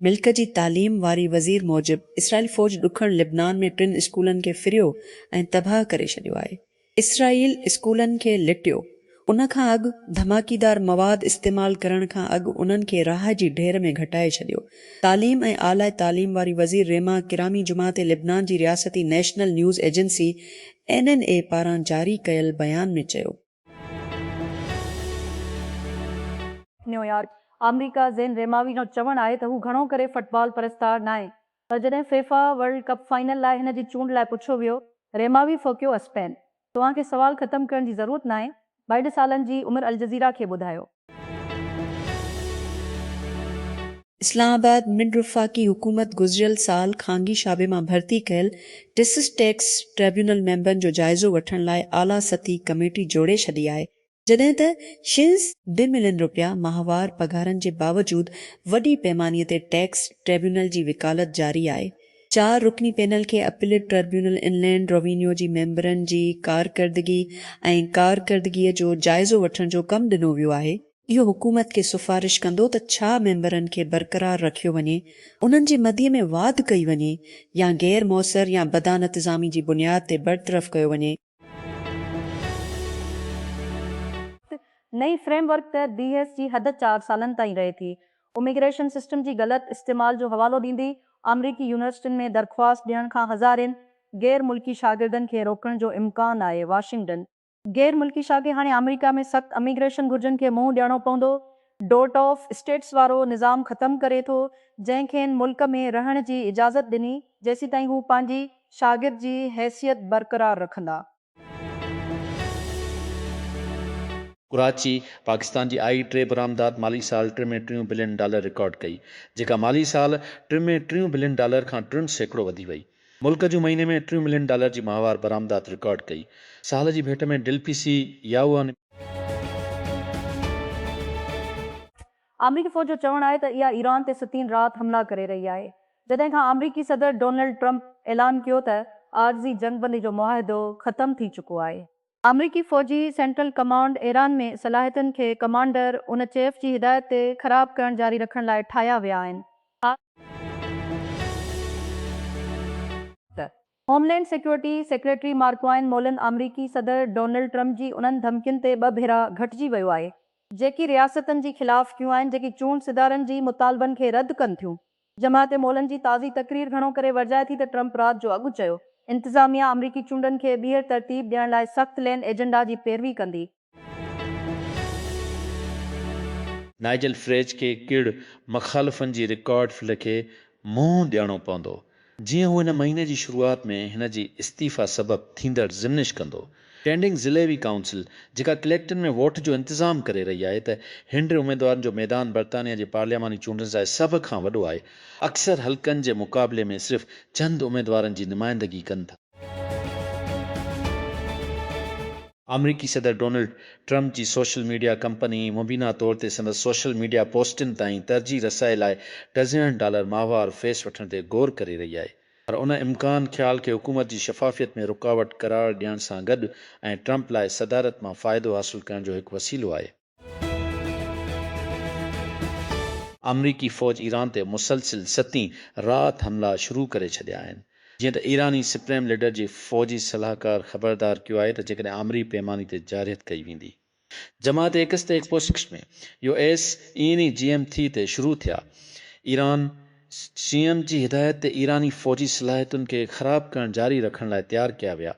ملڪ جي تعليم واري وزير موجب اسرائيل فوج ڏکڻ لبنان ۾ ٽن اسڪولن کي ڦريو ۽ تباهه ڪري ڇڏيو آهي. اسرائيل اسڪولن کي لٽيو. ان کان اڳ ڌماڪيدار مواد استعمال ڪرڻ کان اڳ انهن کي راهه جي ڍير ۾ گهٽائي ڇڏيو. تعليم ۽ اعليٰ تعليم واري وزير ريما ڪرامي جمعه تي لبنان جي رياستي national news agency, N N A, پاران جاري ڪيل بيان ۾ چيو. نيويارڪ، آمريڪا زين ريماوي جو چوڻ آهي ته هو گهڻو ڪري فٽبال پرستار ناهي پر جڏهن فيفا ورلڊ ڪپ فائنل لاء هن جي چونڊ لاء پڇيو ويو، ريماوي ڦوڪيو اسپين توهان کي سوال ختم ڪرڻ جي ضرورت ناهي. ٻائيٽ سالن جي عمر الجزيره کي ٻڌايو. اسلام آباد، مڊ، وفاقي حڪومت گذريل سال خانگي شعبي مان ڀرتي ڪيل ٽيسز ٽيڪس ٽربيونل ميمبرن جو جائزو وٺڻ لاء اعليٰ سطحي ڪميٽي جوڙي ڇڏي آهي، جڏهن ته شيلز به ملين رپيا ماهوار پگهارن جي باوجود وڏي پيماني تي ٽيڪس ٽريبيونل جي وڪالت جاري آهي. چار رڪني پينل کي اپيلٽ ٽريبيونل انلينڊ روينيو جي ميمبرن جي ڪارڪردگي ۽ ڪارڪردگيء جو جائزو وٺڻ جو ڪم ڏنو ويو آهي. اهو حڪومت کي سفارش ڪندو ته ڇا ميمبرن کي برقرار رکيو وڃي، انهن جي مدي ۾ واڌ ڪئي وڃي يا غير موثر يا بدانتظامي جي بنياد تي برطرف ڪيو وڃي. نئين فريم ورڪ تحت بي ايس جي حد چار سالن تائين رهي ٿي. اميگريشن سسٽم جي غلط استعمال جو حوالو ڏيندي آمريڪي يونيورسٽين ۾ درخواست ڏيڻ کان هزارين غير ملڪي شاگردن کي روڪڻ جو امڪان آهي، واشنگٽن. غير ملڪي شاگرد هاڻي آمريڪا ۾ سخت اميگريشن گهرجن کي منهن ڏيڻو پوندو، ڊوٽ آف اسٽيٽس وارو نظام ختم ڪري ٿو، جنهن کين ملڪ ۾ رهڻ جي اجازت ڏني، جيسيتائين هو پنهنجي شاگرد جي حيثيت برقرار رکندا. ڪراچي، پاڪستان جي آئي ٽي برآمدات مالي سال ٽه ۾ ٽيون بلين ڊالر رڪارڊ ڪئي، جيڪا مالي سال ٽه ۾ ٽيون بلين ڊالر کان ٽن سيڪڙو وڌي وئي. ملڪ جون مهيني ۾ ٽيون ملين ڊالر جي ماهوار برآمدات رڪارڊ ڪئي، سال جي ڀيٽ ۾ ڊل پي سي ياوئن. آمريڪي فوج جو چوڻ آهي ته اها ايران تي ستين رات حملا ڪري رهي آهي جڏهن کان آمريڪي صدر ڊونلڊ ٽرمپ اعلان ڪيو ته عارضي جنگبندي جو معاهدو ختم ٿي چڪو آهي. آمريڪي فوجي سينٽرل ڪمانڊ ايران ۾ صلاحيتن کي ڪمانڊر ان چيف جي هدايت تي خراب ڪرڻ جاري رکڻ لاء ٺاهيا ويا آهن. آء ته homeland security secretary Markwayne Mullin آمريڪي صدر ڊونلڊ ٽرمپ جي انهن ڌمڪين تي ٻه ڀيرا گهٽجي ويو آهي جيڪي رياستن جي خلاف ڪيون آهن جيڪي چونڊ سڌارن جي مطالبن کي رد ڪن ٿيون. جماعت مولن جي تازي تقرير گهڻو ڪري ورجائي ٿي ته ٽرمپ رات جو اڳ چيو انتظاميا آمريڪي چونڊن کي ٻيهر ترتيب ڏيڻ لاء سخت لين ايجنڊا جي پيروي ڪندي. نائيجل فريج کي ڪڙ مخالفن جي رڪارڊ ڦل کي منهن ڏيڻو پوندو جيئن هو هن مهيني جي شروعات ۾ هن جي استعيفيٰ سبب ٿيندڙ ضمنش ڪندو ٽينڊنگ ضلعوي ڪائونسل جيڪا ڪليڪٽن ۾ ووٽ جو انتظام ڪري رهي آهي ته هنڊ اميدوارن جو ميدان برطانيا جي پارلياماني چونڊن سان سڀ کان وڏو آهي اڪثر حلقن جي مقابلي ۾ صرف چند اميدوارن جي نمائندگي ڪن ٿا. آمريڪي صدر ڊونلڊ ٽرمپ جي سوشل ميڊيا ڪمپني مبينا طور تي سندس سوشل ميڊيا پوسٽن تائين ترجيح رسائي لاء ڊزنن ڊالر ماهوار فيس وٺڻ تي غور ڪري رهي آهي. پر ان امڪان خيال کي حڪومت جي شفافيت ۾ رڪاوٽ قرار ڏيڻ سان گڏ ۽ ٽرمپ لاء صدارت مان فائدو حاصل ڪرڻ جو هڪ وسيلو آهي. آمريڪي فوج ايران تي مسلسل ستين رات حملا شروع ڪري ڇڏيا آهن. جيئن ته ايراني سپريم ليڊر جي فوجي صلاحڪار خبردار ڪيو آهي ته جيڪڏهن آمري پيماني تي جارحيت ڪئي ويندي. جماعت ايڪس تي X post ۾ U S N A جي ايم ٿي تي شروع ٿيا ايران سي ايم جي هدايت تي ايراني فوجي صلاحيتن کي خراب ڪرڻ جاري رکڻ لاء تيار ڪيا ويا.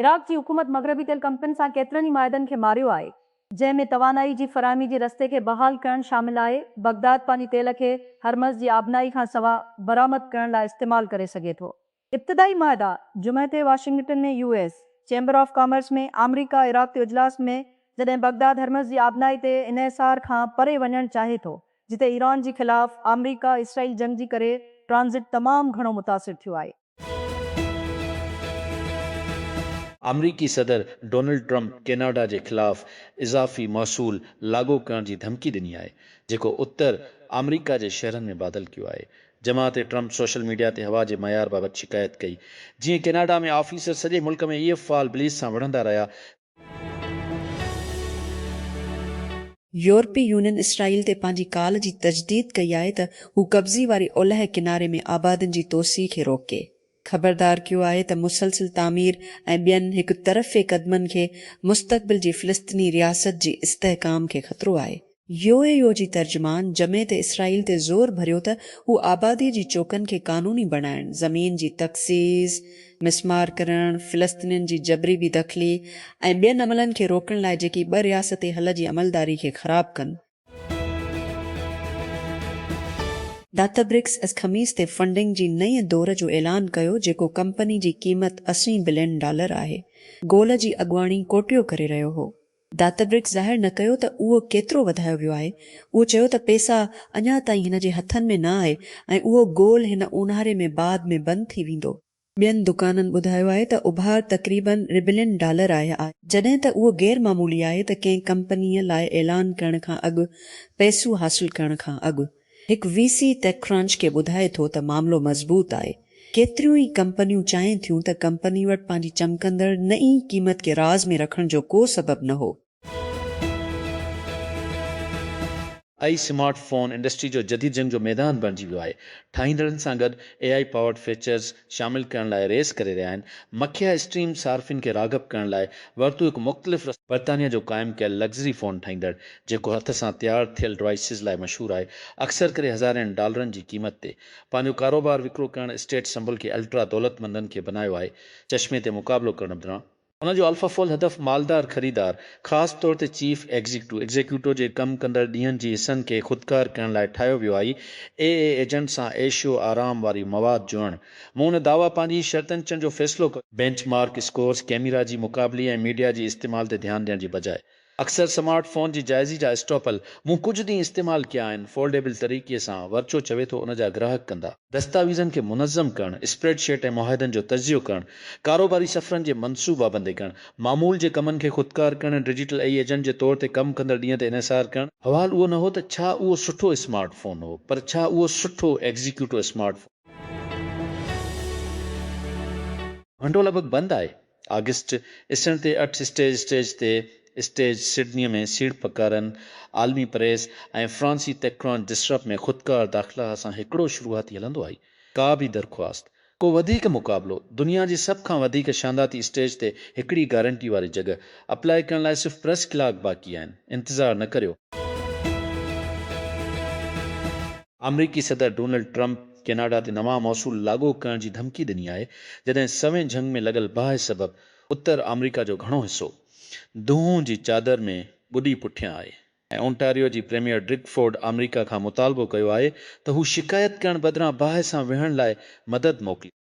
عراق جي حڪومت مغربي تيل ڪمپنين سان ڪيترن ئي معاهدن کي ماريو آهي جنهن ۾ توانائي جي فراهمي جي رستي کي بحال ڪرڻ شامل آهي بغداد پنهنجي تيل کي هرمز جي آبنائي کان سواء برآمد ڪرڻ لاء استعمال ڪري سگهي ٿو. ابتدائي معاهدا جمعي تي Washington ۾ U S chamber of commerce ۾ آمريڪا عراق تي اجلاس ۾ جڏهن بغداد هرمز جي آبنائي تي انحصار کان پري وڃڻ چاهي ٿو جتي ايران جي خلاف آمريڪا اسرائيل جنگ جي ڪري ٽرانزٽ تمام گهڻو متاثر ٿيو آهي. آمريڪي صدر ڊونلڊ ٽرمپ ڪيناڊا جي خلاف اضافي محصول لاڳو ڪرڻ جي ڌمڪي ڏني آهي جيڪو اتر آمريڪا جي شهرن ۾ بادل ڪيو آهي جماعت ٽرمپ سوشل ميڊيا تي هوا جي معيار بابت شڪايت ڪئي، جيئن ڪيناڊا ۾ آفيسر سڄي ملڪ ۾ ايف فال بليز سان وڙهندا رهيا ته. يورپي يونين اسرائيل تي پنهنجي ڪال جي تجديد ڪئي آهي ته هو قبضي واري اولهه ڪناري ۾ آبادين جي توسيع کي روڪي. خبردار ڪيو آهي ته مسلسل تعمير ۽ ٻين هڪ طرفي قدمن کي مستقبل جي فلسطيني رياست جي استحڪام کي خطرو آهي. يو اي يو جي ترجمان جمعي تي اسرائيل تي زور ڀريو ته هو آبادي جي چوڪن کي قانوني بڻائڻ، زمين جي تخصيص، مسمار ڪرڻ، فلسطينين جي جبري بي دخلي ۽ ٻين عملن کي روڪڻ لاء جيڪي ٻه رياستي حل جي عملداري کي خراب ڪن، ڊاتابرڪس اڄ خميس تي فنڊنگ جي نئين دور جو اعلان ڪيو جيڪو ڪمپني جي قيمت اسي بلين ڊالر آهي. گول جي اڳواڻي ڪوٽيو ڪري رهيو هو. ڊاتابرڪس ظاهر نه ڪيو ته اهو ڪيترو وڌايو ويو آهي. اهو چيو ته پيسا اڃا تائين هن جي هٿن ۾ نه آهي ۽ اهو گول هن اونهاري ۾ بعد ۾ بند ٿي ويندو. ٻين دڪانن ٻڌايو آهي ته اڀار تقريبن ربلين ڊالر آهي، جڏهن ته اهو غير معمولي آهي ته ڪنهن ڪمپنيء لاء اعلان ڪرڻ کان اڳ پئسو حاصل ڪرڻ کان اڳ. هڪ وي سي ٽيڪ ڪرانچ کي ٻڌائي ٿو ته معاملو مضبوط آهي، ڪيتريون ئي ڪمپنيون چاهين ٿيون ته ڪمپني وٽ پنهنجي چمڪندڙ نئين قيمت کي راز ۾ رکڻ جو ڪو سبب نه هو، A I smartphone industry جو جديد جنگ جو ميدان بڻجي ويو آهي، ٺاهيندڙن سان گڏ اي آء پاورڊ فيچرز شامل ڪرڻ لاء ريس ڪري رهيا آهن، مکيه اسٽريم صارفين کي راغب ڪرڻ لاء ورتو هڪ مختلف رستو. برطانيا جو قائم ڪيل لگزري فون ٺاهيندڙ، جيڪو هٿ سان تيار ٿيل ڊوائسز لاء مشهور آهي، اڪثر ڪري هزارين ڊالرن جي قيمت تي پنهنجو ڪاروبار وڪرو ڪرڻ اسٽيٽ سمبل کي الٽرا دولتمندن کي بنايو آهي، چشمي تي مقابلو ڪرڻ بدران ان جو الفا فول هدف مالدار خريدار، خاص طور تي چيف ايگزيڪٽو، Executo، جي ڪم ڪندڙ ڏينهن جي حصن کي خودڪار ڪرڻ لاء ٺاهيو ويو آهي. اي اي ايجنٽ سان عيش و آرام واري مواد جوڙڻ. مون ان دعويٰ پنهنجي شرطن چڻ جو فيصلو ڪيو. بينچ مارڪ اسڪورز، ڪيميرا جي مقابلي ۽ ميڊيا جي استعمال تي ڌيان ڏيڻ جي بجاء اڪثر سمارٽ فون جي جائزي جا اسٽاپل مون ڪجهه ڏينهن استعمال ڪيا آهن، فولڊيبل طريقي سان، ورچو چوي ٿو، ان جا گراهڪ ڪندا. دستاويزن کي منظم ڪرڻ، اسپريڊ شيٽ ۽ معاهدن جو تجزيو ڪرڻ، ڪاروباري سفرن جي منصوبابندي ڪرڻ، معمول جي ڪمن کي خودڪار ڪرڻ ۽ ڊجيٽل اي ايجنٽ جي طور تي ڪم ڪندڙ ڏينهن تي انحصار ڪرڻ. سوال اهو نه هو ته ڇا اهو سٺو اسمارٽ فون هو، پر ڇا اهو سٺو ايگزيڪيوٽو اسمارٽ فون هو. گهنٽو لڳ ڀڳ بند آهي. آگسٽ، اسٽينڊ تي اٺ اسٽيج اسٽيج تي اسٽيج سڊنيء ۾ سيڙپڪارن، عالمي پريس ۽ فرانسي تيڪران ڊسرپ ۾ خودڪار داخلا سان هڪڙو شروعاتي هلندو آهي. ڪا به درخواست، ڪو وڌيڪ مقابلو، دنيا جي سڀ کان وڌيڪ شانداتي اسٽيج تي هڪڙي گارنٽي واري جڳهه اپلائي ڪرڻ لاء صرف پريس ڪلاڪ باقي آهن. انتظار نه ڪريو. آمريڪي صدر ڊونلڊ ٽرمپ ڪيناڊا تي نوان محصول لاڳو ڪرڻ جي ڌمڪي ڏني آهي جڏهن سوين جهنگ ۾ لڳل باهه سبب اتر آمريڪا جو گهڻو حصو دونهون جي چادر ۾ ٻڏي پٺيان آهي ۽ اونٽاريو جي پريميئر ڊرڪ فورڊ آمريڪا کان مطالبو ڪيو آهي ته هو شڪايت ڪرڻ بدران باهه سان ويهڻ لاء مدد موڪلي.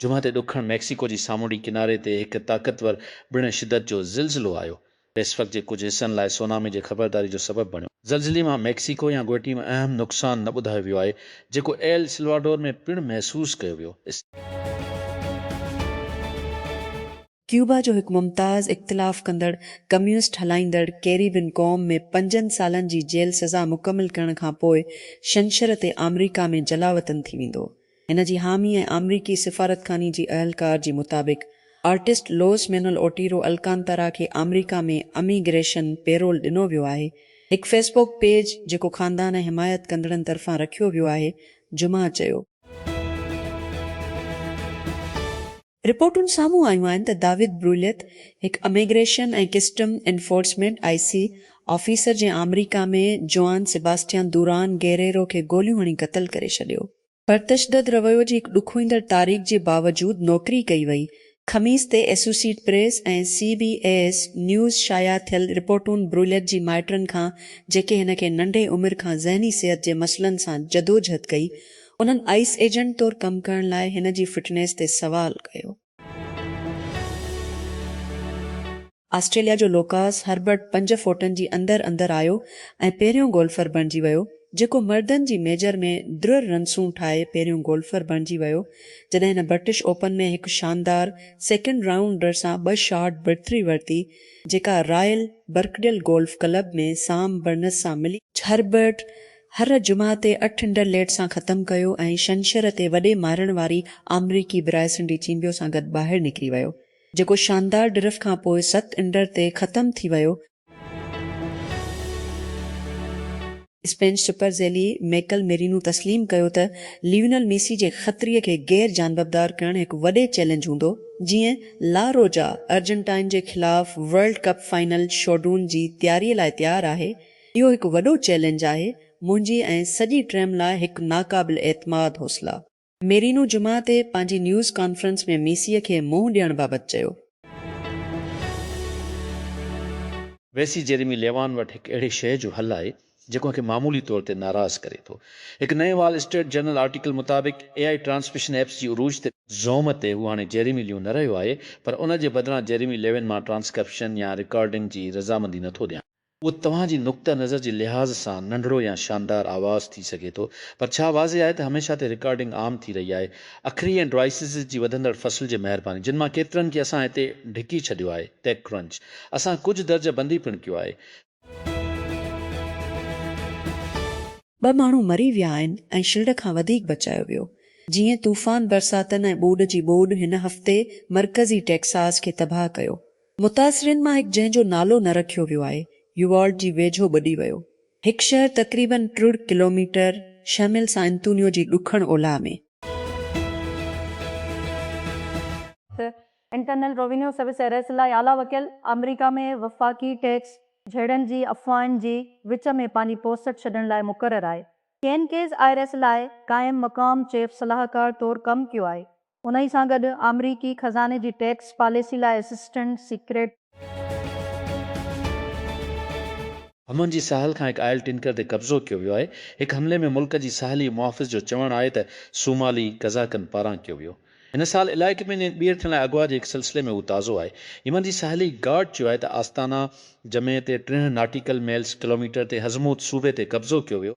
جمعي تي ڏکڻ ميڪسيڪو جي سامونڊي ڪناري تي هڪ طاقتور ٻڻ شدت جو زلزلو آيو پئسفڪ جي ڪجهه حصن لاء سونامي جي خبرداري جو سبب بڻيو. زلزلي مان ميڪسيڪو يا گوئٽي ۾ اهم نقصان نه ٻڌايو ويو آهي، جيڪو ايل سلواڊور ۾ پڻ محسوس ڪيو ويو. ڪيوبا جو هڪ ممتاز اختلاف ڪندڙ ڪميونسٽ هلائيندڙ ڪيريبين قوم ۾ پنجن سالن جي جيل سزا مڪمل ڪرڻ کان پوء ڇنڇر تي آمريڪا ۾ جلاوطن ٿي ويندو. هن جي حامي ۽ آمريڪي سفارتخاني جي اهلڪار جي مطابق artist Luis Manuel Otero Alcantara کي آمريڪا ۾ امي گريشن پيرول ڏنو ويو آهي. هڪ فيس بوڪ پيج جيڪو خاندان ۽ حمايت ڪندڙن طرفان رکيو ويو آهي جمعه چيو. رپورٽون سامهون آيون آهن ته داود بروليت هڪ immigration ۽ custom enforcement, I C, officer جنهن آمريڪا ۾ جوئان سيباسٽيان دوران گيريرو کي گوليون هڻي قتل ڪري ڇڏيو، پرتشدد رويو جي هڪ ڏکوئيندڙ تاريخ جي باوجود نوڪري ڪئي وئي، خميس تي associate press ۽ C B S news شايع ٿيل رپورٽون بروليت جي مائٽن کان جيڪي هن کي ننڍي عمر کان ذهني صحت جي مسئلن سان جدوجهد ڪئي انهن آئيس ايجنٽ طور ڪم ڪرڻ لاء هن جي فٽنيس تي سوال ڪيو. آسٽريليا جو لوڪاس هربرٽ پنج فوٽن جي اندر اندر آيو ۽ پهريون گولفر بڻجي ويو جيڪو مردن جي ميجر ۾ درر رنسون ٺاهي پهريون گولفر بڻجي ويو جڏهن هن برٽش اوپن ۾ هڪ شاندار سيڪنڊ رائونڊر سان ٻه شارٽ برٿري ورتي جيڪا royal Birkdale golf club ۾ Sam Burns سان ملي هربرٽ هر جمعه تي اٺ انڊر ليڊ سان ختم ڪيو ۽ شنشر تي وڏي مارڻ واري آمريڪي برائسن ڊي چيمبيو سان گڏ ٻاهر نڪري ويو جيڪو شاندار ڊرف کان پوء ست انڊر تي ختم ٿي ويو. اسپينش سپر ذيلي ميڪل ميرينو تسليم ڪيو ته ليونل ميسي جي خطري کي غير جانببدار ڪرڻ هڪ وڏي چئلينج هوندو جيئن لا روجا ارجنٽائن جي خلاف ورلڊ ڪپ فائنل شوڊون جي تياري لاء تيار آهي اهو هڪ وڏو چئلينج آهي منهنجي ۽ سڄي ٽيم لاء هڪ ناقابل اعتماد حوصلا. ميرينو جمعه تي پنهنجي نيوز ڪانفرنس ۾ ميسيء کي منهن ڏيڻ بابت چيو. ويسي جيريمي ليوان وٽ هڪ اهڙي شيء جو حل آهي جيڪو کي معمولي طور تي ناراض ڪري ٿو. هڪ نئين وال اسٽريٽ جرنل آرٽيڪل مطابق اي آء ٽرانسميشن ايپس جي عروج تي، زوم تي هو هاڻي جيريمي ليون نه رهيو آهي پر ان جي بدران جيريمي ليون مان ٽرانسڪرپشن يا رڪارڊنگ جي رضامندي نٿو ڏيان. اهو توهان جي نقطه نظر جي لحاظ سان ننڍڙو يا شاندار آواز ٿي سگهي ٿو، پر ڇا واضح آهي ته هميشه تي رڪارڊنگ عام ٿي رهي آهي؟ اکري ۽ ڊوائسز جي وڌندڙ فصل جي مهرباني، جن مان ڪيترن کي اسان هتي ڍڪي ڇڏيو آهي، ٽيڪ ڪرنچ اسان ڪجهه درجه بندي پڻ ڪيو آهي. ٻه ماڻهو مري ويا آهن ۽ شلڊ کان وڌيڪ بچايو ويو. جيئن طوفان، برساتن ۽ ٻوڏ جي ٻوڏ هن هفتي مرڪزي ٽيڪساز کي تباهه ڪيو، متاثرين مان هڪ جنهن جو نالو نه رکيو ويو آهي، يووالڊ جي ويجهو ٻڏي ويو. هڪ شهر تقريباً ٽڙ ڪلوميٽر شميل سان انتونيو جي ڏکڻ اولهه ۾. Internal revenue service I R S لاء اعليٰ وڪيل آمريڪا ۾ وفاقي ٽيڪس جهيڙن جي افواهن جي وچ ۾ پنهنجي پوسٽ ڇڏڻ لاء مقرر آهي. کين ڪيز آئرس لاء قائم مقام چيف صلاحڪار طور ڪم ڪيو آهي. انهي سان گڏ آمريڪي خزاني جي ٽيڪس پاليسي لاء اسسٽنٽ سيڪريٽري. حمن جي ساحل کان هڪ آئل ٽينڪر تي قبضو ڪيو ويو آهي، هڪ حملي ۾ ملڪ جي ساحلي محافظ جو چوڻ آهي ته صومالي قزاقن پاران ڪيو ويو هن سال علائقي ۾ ٻيهر ٿيڻ لاء اغوا جي هڪ سلسلي ۾ هو تازو آهي يمن جي ساحلي گارڊ چيو آهي ته آستانا جمعي تي ٽيهه ناٽيڪل ميلز، ڪلوميٽر، تي حضموت صوبي تي قبضو ڪيو ويو.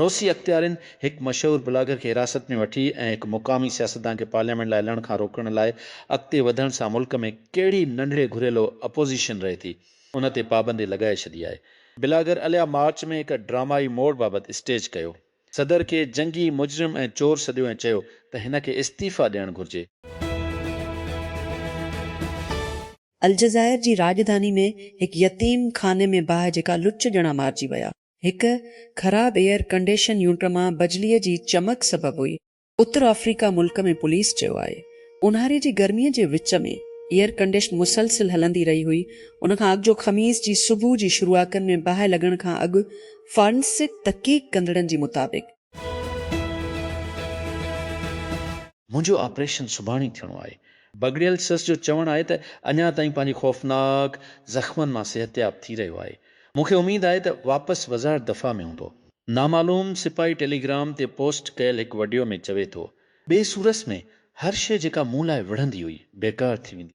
روسي اختيارين هڪ مشهور بلاگر کي حراست ۾ وٺي ۽ هڪ مقامي سياستدان کي پارليامينٽ لاء هلڻ کان روڪڻ لاء اڳتي وڌڻ سان ملڪ ۾ ڪهڙي ننڍڙي گهريلو اپوزيشن رهي ٿي ان تي پابندي لڳائي ڇڏي آهي. بلاگر اليا مارچ ۾ هڪ ڊرامائي موڙ بابت اسٽيج ڪيو صدر کي جنگي مجرم ۽ چور سڏيو ۽ چيو ته هن کي استعيفيٰ ڏيڻ گهرجي. الجزائر جي راڄڌاني ۾ هڪ يتيم خاني ۾ باهه جهڪا لچ ڄڻا مارجي ويا. هڪ خراب ايئر ڪنڊيشن يونٽ مان بجليء جي چمڪ سبب هئي. اتر آفريڪا ملڪ ۾ پوليس چيو آهي اونهاري جي گرمي جي وچ ۾ ايئر ڪنڊيشن مسلسل هلندي رهي هئي ان کان اڳجو خميس جي صبح جي شروعاڪن ۾ باهه لڳڻ کان اڳ فارنسڪ تحقيق ڪندڙن جي مطابق منهنجو آپريشن سڀاڻي ٿيڻو آهي. بگڙيل سس جو چوڻ آهي ته اڃا تائين پنهنجي خوفناڪ زخمن مان صحتياب ٿي رهيو آهي. مون کي اميد آهي ته واپس وزارت دفاع ۾ هوندو. نامعلوم سپاهي ٽيليگرام تي پوسٽ ڪيل هڪ وڊيو ۾ چوي ٿو، ٻي صورت ۾ هر شيء جيڪا مون لاء وڙهندي هئي، بيڪار ٿي ويندي.